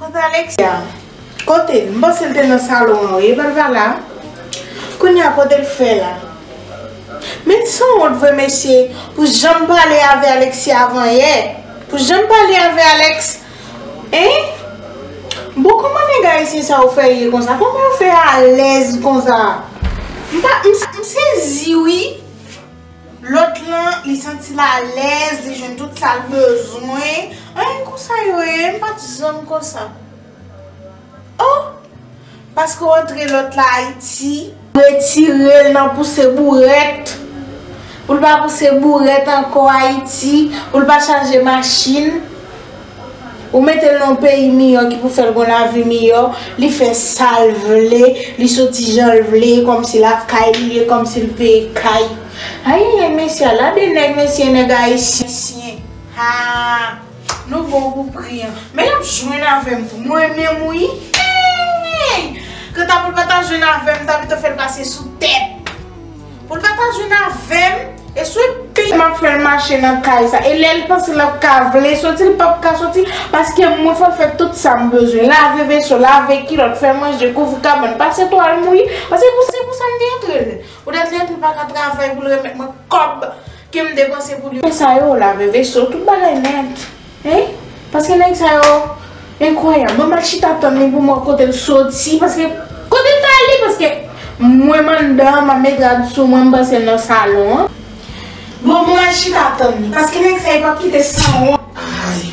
Kote Alexia? Kote l? M panse l te nan salon an wi. Epa l pa la? Kounye a kote l fè la? Men l sanwont vre mesye pou jan m pale avè Alexia avan yè. Pou jan m pale avè Alex. Enh bon koman nèg ayisyen sa yo fè ye konsa koman yo fè alèz konsa m pa m sezi wi lòt lan li santi l alèz li jwenn tout sa l bezwen anyen konsa yo ye m pat janm konsa. Oh! Paske w antre lòt la Ayiti. Retire l nan pouse bourèt. Pou l pa pouse bourèt ankò Ayiti. Pou l pa chaje machin. Ou mete l nan yon peyi miyò ki pou fè l gon lavi miyò. Li fè sa l vle. Li soti jan l vle. Kòmsi lakay li ye. Kòmsi l peye kay. Ayayay mesye a la de nèg mesye nèg ayisyen. Haa. Nou bon pou pri an. Men yap jwenn avèm tou. Mwen menm wi eeyy. Kanta poul pa ta jwenn avèm m ta pito fèl pase sou tèt. Poul pa ta jwenn avèm e sou yon pi. Map fèl mache nan kay sa. E lèl panse lap ka vle soti li pap ka soti paske mwen fèl fè tout sam bezwen. Lave veso, lave kilòt, fè manje, kouvri kabann, pase twal mouye. Paske se pou sa m te antrel. Poutèt li antre li paka travay poul remèt mwen kòb Kem depanse pou li yo. Nèg sa yo lave veso tout bagay nèt hein paske nèg sa yo enkwayab mwen mèt chita tann li poum wè kotel soti paske kotel ta ale paske mwen m anndan map met rad sou mwen m pansel nan salon an bon mwen mèt chita tann li paske nèg sa yo pap kite sanwont aayy.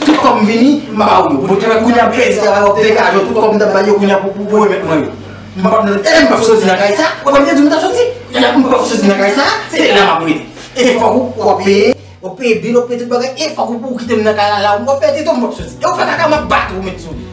Tout kòm vini m pa ba ou yo. Bon travay kounya m pèdi travay wap fè kajo tout kòm m tap bay yo kounya pou pou remèt mwen yo. M pap nan e m pap soti nan kay sa ou pa m te di m tap soti kounya m pap soti nan kay sa se la map rete e fòk ou wap peye wap peye bil wap peye tout bagay e fòk ou pou w kite m nan kay la la ou wap pèdi tou m pap soti e w fè kaka map bat ou met sou.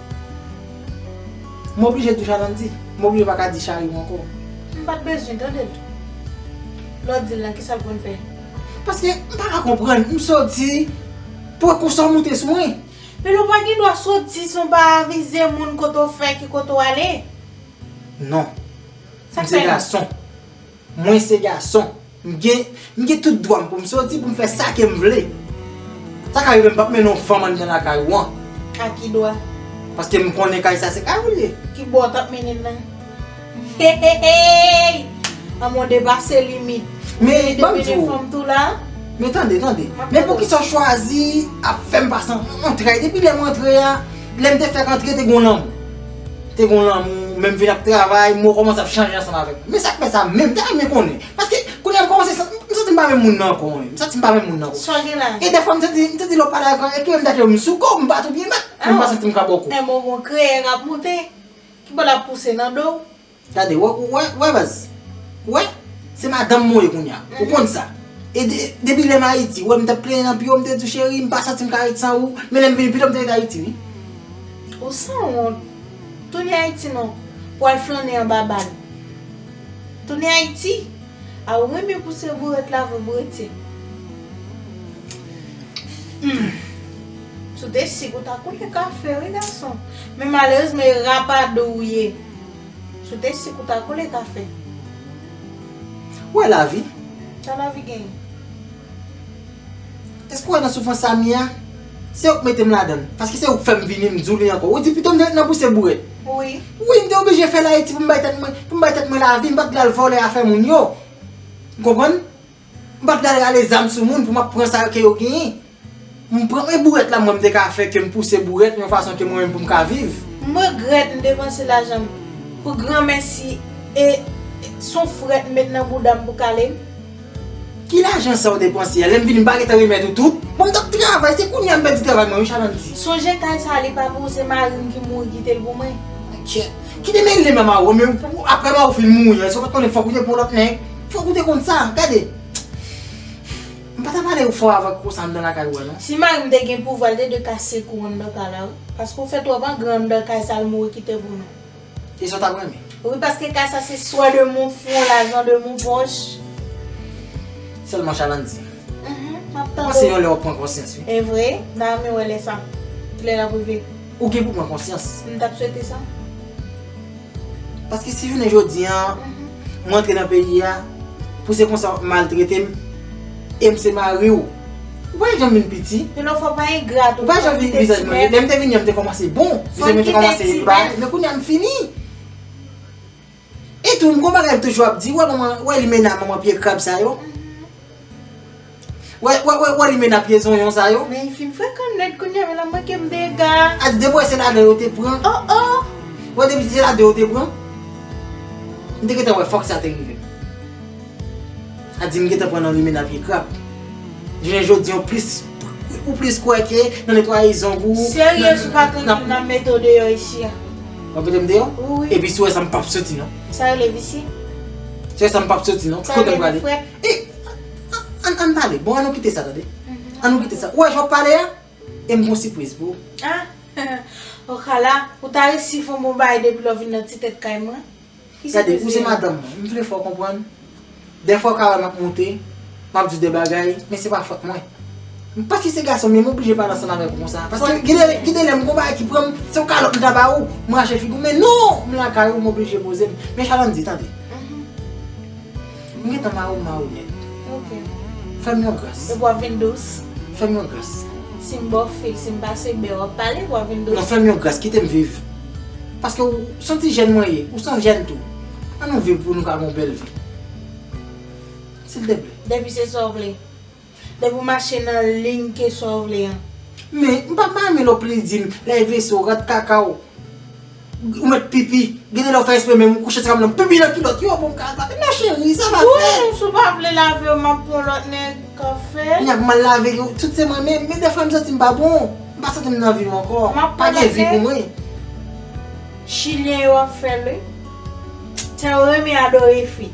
M oblije di Chavandy. M oblije pa ka di Chayou ankò. M pa t bezwen tande l tou. Lè w di l la, ki sa l konn fè? Paske m pa ka konprann. M soti, pran konsa w moute sou mwen. Men lè w pa gen dwa soti san w pa avize moun kote w fè, ki kote w ale. Non. Sa k fè l? M se gason. Mwen se gason. M gen m gen tout dwa m pou m soti, pou m fè sa ke m vle. Sa ka rive m pap mennen yon fanm anndan lakay ou an. A ki dwa? Paske m konnen kay sa se kay ou l ye. Ki bò w t ap mennen m nan? Heheheyy! Anmwee w depase limit. Ou vini te mennen fanm tou la? Men tande, tande. Men poukisa w chwazi ap fè m pase antrè? Depi lè m antre a, lè m te fèk antre te gen yon lanmou. Te gon lanmou, men m vin ap travay, mwen kòmanse ap chanje ansanm avèk li. Men sa k fè sa menm? M ta renmen konnen. Paske, kounye a m kòmanse santi, m santi m pa menm moun nan ankò. M santi m pa menm moun nan ankò. Sa w gen la? E dèfwa m santi, m santi lè w pale avèk mwen, ekrimen m ta di w m sou kò, m pa twou byen mèt. Mwen pa santi m ka ba w kou. Enben w gen yon kreyè k ap moute, ki pa l ap pouse nan do w. Gade wè ou wè baz. Ou wè? Se madanm mwen ye kounya. Ou konn sa. E depi lèm Ayiti, ou wè m t ap plenyen nan pi wo, m te di w cheri, m pa santi m ka ret san ou, men lè m vini pito m te ret Ayiti wi. Ou san wont. Tounen Ayiti non. Pou al flannen anba bal. Tounen Ayiti. A ou renmen pou se vre w ret la vre pou w ret ye. Humm. Si w te sik ou ta konnen kafe wi gason. Men malerezman e rapadou ou ye. Si w te sik ou ta koule kafe. Ou wè lavi? Sa lavi genyen? Èske w wè nan soufrans sa m ye a? Se ou k mete m ladan l. Paske se ou k fè m vini, m di w li ankò. Ou di pito m te ret nan bouse bourèt. Wi. Wi, m te oblije fè l Ayiti pou m bay tèt mwen lavi. M pa t vle al vòlè afè moun yo. Ou konprann? M pat pral rale zam sou moun pou m ap pran sa ke yo genyen. M pran men bourèt la mwen m te ka fè ke m pouse bourèt yon fason ke mwen menm pou m ka viv. M regrèt m depanse lajan m pou gran mèsi e s on frèt m met nan bouda m pou kale m. Ki lajan sa ou depanse a? Lè m vini m pa gentan remèt ou tout? Mwen m t ap travay, se kounye a m pèdi travay mwen wi Chalanti. Sonje kay sa li pa pou ou se mari m ki mouri kite l pou mwen. Kite mele m a Mawou men ou aprè Mawou fin mouri an èske ou pat konnen fòk ou te pran lòt nèg? Fok ou te konn sa, gade. M pa ta pale ou fò avan kouko sa anndan lakay ou a non. Si marim te gen pouvwa l te dwe kase kou anndan kay la wi. Paske ou fè twòp angran anndan kay sa l mouri kite pou nou. E sa w tap renmen? Wi paske kay sa se swa de mon fwon lajan de mon pòch. Sèlman Chavandy. Map tande w. Mpanse yon lè wap pran konsyans wi. Evre, m ta renmen wè lè sa. Kilè lap rive. Ou gen pou pran konsyans. M tap swete sa. Paske si jounen jodi an, m antre nan peyi a, pou se konsa wap maltrete m, e m se mari w, ou pa janm vin piti. Yon lòt fwa ou pa engra tou. Ou pa janm vin vizaj mwen. Lè m te vini an m te kòmanse bon. Vizaj mwen te kòmanse ba. Men kounye a m fini. E tou m kon bagay m toujou ap di, wè manman, wè limena manman pye krab sa yo, wè, wè, wè limena pye zonyon sa yo. Men fi m frekan nèt kounya men la manke m dega. A di depi wè se ladan yo te pran. Oh oh. Wè depi se ladan yo te pran. M te gentan wè fòk sa te rive. A di m gentan pran nan limena pye krab. Jounen jodi an plis, ou plis kwè ke nan netwaye zong ou. Serye sou pa tranpil nan mete w deyò isi a. Wap metem deyò? Wi. Epi si w wè sa m pap soti non. Sa rele visye? Si w wè sa m pap soti non. Sa rele gen frèt? E! An an pale. Bon an nou kite sa tande. An nou kite sa. Ou wè jan wap pale a? E m gon sipriz pou ou. Ah! Okala, ou ta resi fon bon bagay depi lè w vin nan ti tèt kay mwen. Gade, ou se madanm mwen, m vle fè w konprann, dèfwa w ka wè m ap monte, m ap di de bagay, men se pa fòt mwen. Paske se gason m ye, m oblije pale ansanm avèk ou konsa. Paske gen de lè m gen yon bagay ki pran m, se yon kalòt m ta ba ou, m rache figi w, men non! M lakay ou, m oblije poze m. Men Shalom di, tande. M gentan mare w mare w nèt. Ok. Fè m yon gras. Epi w ap vin dous. Fè m yon gras. Si m ba w fil, si m pase bè, w ap pale epi w ap vin dous. Non fè m yon gras, kite m viv. Paske w s on ti jèn mwen ye, ou s on jèn tou. An nou viv pou nou ka gen yon bèl vi. Silteplè. Depi se sa w vle. Depi w mache nan ligne kesyon w vle an. Men, m pa mame l o plis di m, lè w vese w rat kaka w, ou mèt pipi, gen de lè w fè espre menm ou kouche sou tab la, m pipi nan kilòt yo pou m ka al lave. Non cheri, sa pa fèt. Wouyy, si w pa vle lave yo m ap pran lòt nèg k ap fè. N ap mal lave yo, tout se mwen menm. Men dèfwa m santi m pa bon. M pa santi m nan vi m ankò. M ap pran lòt nèg. Pa gen vi pou mwen. Chilyen yo ap fè l wi. Tèl renmen adore fi.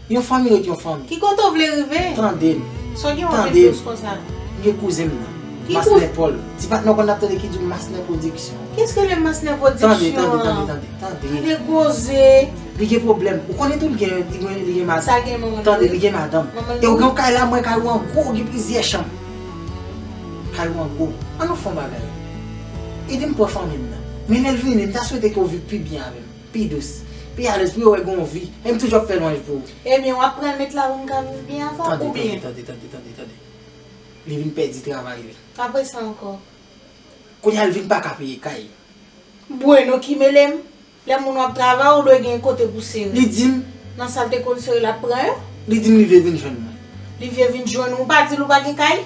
Yon fanmi ret yon fanmi. Ki kote w vle rive? Tande m. Sa w gen w ap mete dous konsa? M gen kouzen m nan. Ki kouzen? Masnè Pòl. Ti patnè w konn n ap tande ki di w Masnè Pwodiksyon. Ki eske li Masnè Pwodiksyon? Tande, tande, tande, tande. Tande koze. Li gen pwoblèm. Ou konnen tou li gen, li gen, li gen madanm. Sa gen manman l? Tande, li gen madanm. Manman l? E w gen yon kay la mwen, kay ou an gwo, gen plizyè chanm. Kay ou an gwo. An nou fè yon bagay. Ede m pou w fanmi m nan. Men lè l vini, m ta swete ke w viv pi byen avè m. Pi dous. Pi alèz pou yo wè gen yon vi. E m toujou ap fè lwanj pou ou. Ebyen w ap pran met la pou m ka viv byen avè w oubyen. Tande, tande, tande, tande, tande, tande. Li vin pèdi travay li. Apresa ankò? Kounye a l vin pa ka peye kay. Bueno ki mele m. Lè moun w ap travay ou dwe gen kote pou sere. Li di m. Nan sa l te konn sere l ap pran yo. Li di m li vle vin jwenn mwen. Li vle vin jwenn ou. Ou pa di l ou pa gen kay?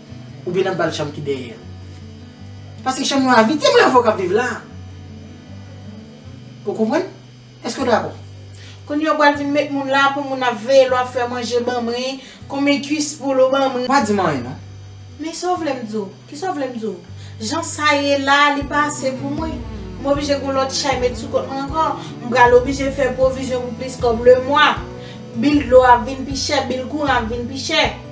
Ou byen nan bal chanm ki dèyè. Paske chanm yo avide se mwen avè w kap viv la. Ou konprann? Eske w dakò? Kounye a ou pral vin met moun la pou moun ap veye lè w ap fè manje ban mwen, konbyen kuis poul ou ban mwen. Ou pa di m anyen non. Men sa w vle m di w? Kisa w vle m di w? Jan sa ye la a li pa ase pou mwen. M oblije gen yon lòt chay met sou kont mwen ankò. M pral oblije fè pwovizyon pou plis kòb lemwa. Bil dlo a ap vin pi chè, bil kouran ap vin pi chè.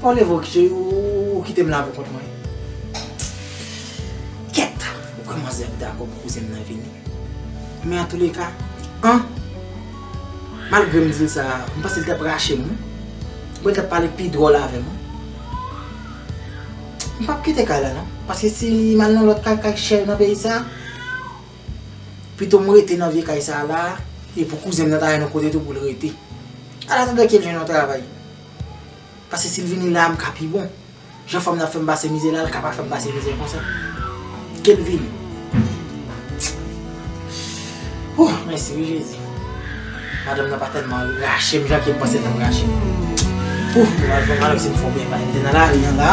Bon Levo kije ou kite m la pou kont mwen. Kèt! Ou kwè manzè ap dakò pou kouzen m nan vini? Men an tou le ka, an! Malgre m di l sa, m panse l t ap rache m wi. Bon li t ap pale pi dwòl avè m wi. M p ap kite kay la non. Paske si m al nan lòt kay, kay chè nan peyi sa. Pito m rete nan vye kay sa la a, e pou kouzen m nan ta jwenn yon kote tou pou l rete. An atandan ke l jwenn yon travay. Pase si l vini la a m ka pi bon. Jan fanm nan ap fè m pase mizè la a l ka pa fè m pase mizè konsa. Ke l vini. Ooh! Mèsi wi Jezi. Madanm nan pa tèlman rache m jan ke m panse l t ap rache m. Ooh m pral pran Manouk si m fè w byen pale. M te nan lari an la.